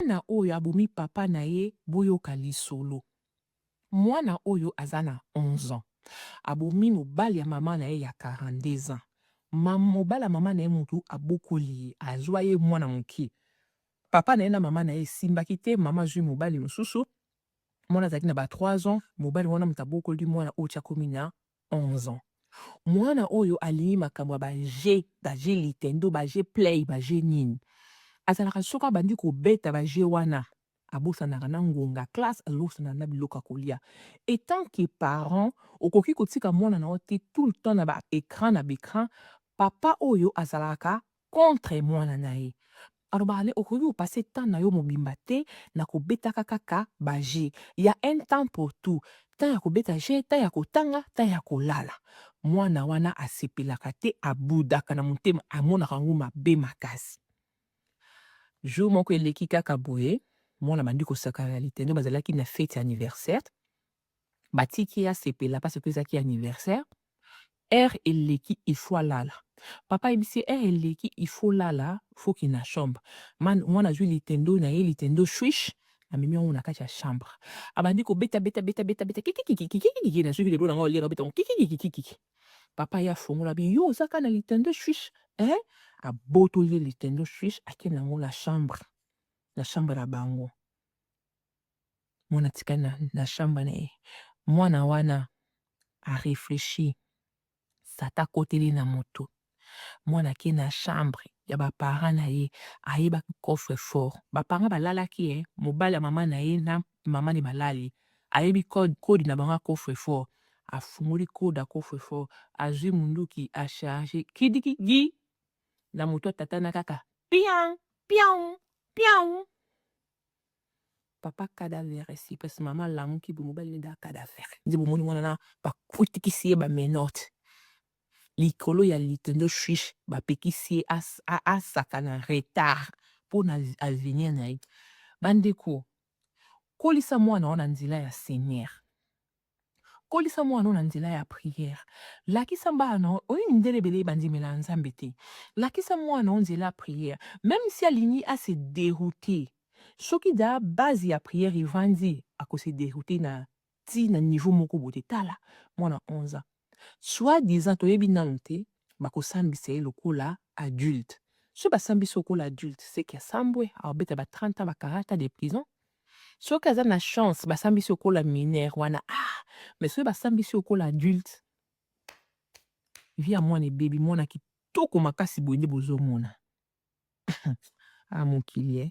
Mwana oyo abomi papa na ye boyoka lisolo mwana oyo aza na 11 ans abomi mobali ya maman na ye ya 42 ans ma mobali ya maman na ye mutu abokoli ye azua ye mwana mukie papa na ye na maman na ye esimbaki te maman azui mobali mususu mwana azalaki na ba 3 ans mobali wana mutu abokoli mwana oyo ti akomi na 11 ans muana oyo alingi makambo ya ba jeux ba jeux litendo ba jeux play ba jeux nini azalaka soki abandi kobeta ba jeux wana abosanaka na ngonga classe abosanaka na biloko ya kolia etant que parent okoki kotika mwana na yo te tout le temps na ba ecran na ba ecran papa oyo azalaka contre muana na ye. Alobaka ne okoki ko passer temps na yo mobimba te na ko betaka kaka ba jeux. Il ya un temps pour tout. Temps ya ko beta jeux, temps ya ko tanga, temps ya ko lala. Muana wana a sepelaka te, a boudaka na motema, a monaka yango mabe makasi. Jour moko eleki kaka boye, muana abandi ko sakana na Litendi, ba zalaki na fete ya anniversaire. batiki ye asepela parce que ezalaki anniversaire heure eleki il faut alala papa ayebisi ye heure eleki il faut olala faut okende na chambre Man- mwana azwi litendo na ye litendo shuish amemi yango na kati ya chambre abandi kobeta beta beta beta beta kikikikikikikiki nazoki lelo na ngai oliaka beta yango kikikikikikiki papa ye afongola bi yo oza kaka na litendo shuish eh abotoli ye litendo shuish akende yango na chambre na chambre na bango mwana atikali na, na shamba na ye mwana wana areflechi sata akoteli na moto mwana ake na chambre ya baparent na ye ayebaki coffre fort baparent balalaki ye mobali ya mama na ye na mama ne balali ayebi code code na bango ya coffre fort afungoli code ya coffre fort azwi munduki acharge kidikigi na moto atatana kaka pian pian pian Papa cadavere si pasi mama alamuki boye mobali nde da cadavere nde bomoni mwana na bakutikisi ye ba menote likolo ya lito nde swish bapekisi ye asaka na retard mpo na avenir na ye bandeko kolisa mwana wana nzela ya seigneur Kolisa mwana oyo na nzela ya prière. Lakisa bana oyo mindele ebele bandimela Nzambe te. Lakisa mwana oyo nzela ya prière. Meme si alingi a se derouter, soki dejà base ya prière evandi, ako se derouter na ti na niveau moko boye te. Tala mwana 11 ans. Soit disant toyebi nanu te bakosambisa ye lokola adulte. Soki basambisi lokola adulte seke asambwe akobeta ba 30 ans ba 40 ans de prison. Soki aza na chance basambisi lokola mineur wana ah mais soki basambisi lokola adulte vie ya mwana ebebi mwana kitoko makasi boye nde bozomona ah mokili eh.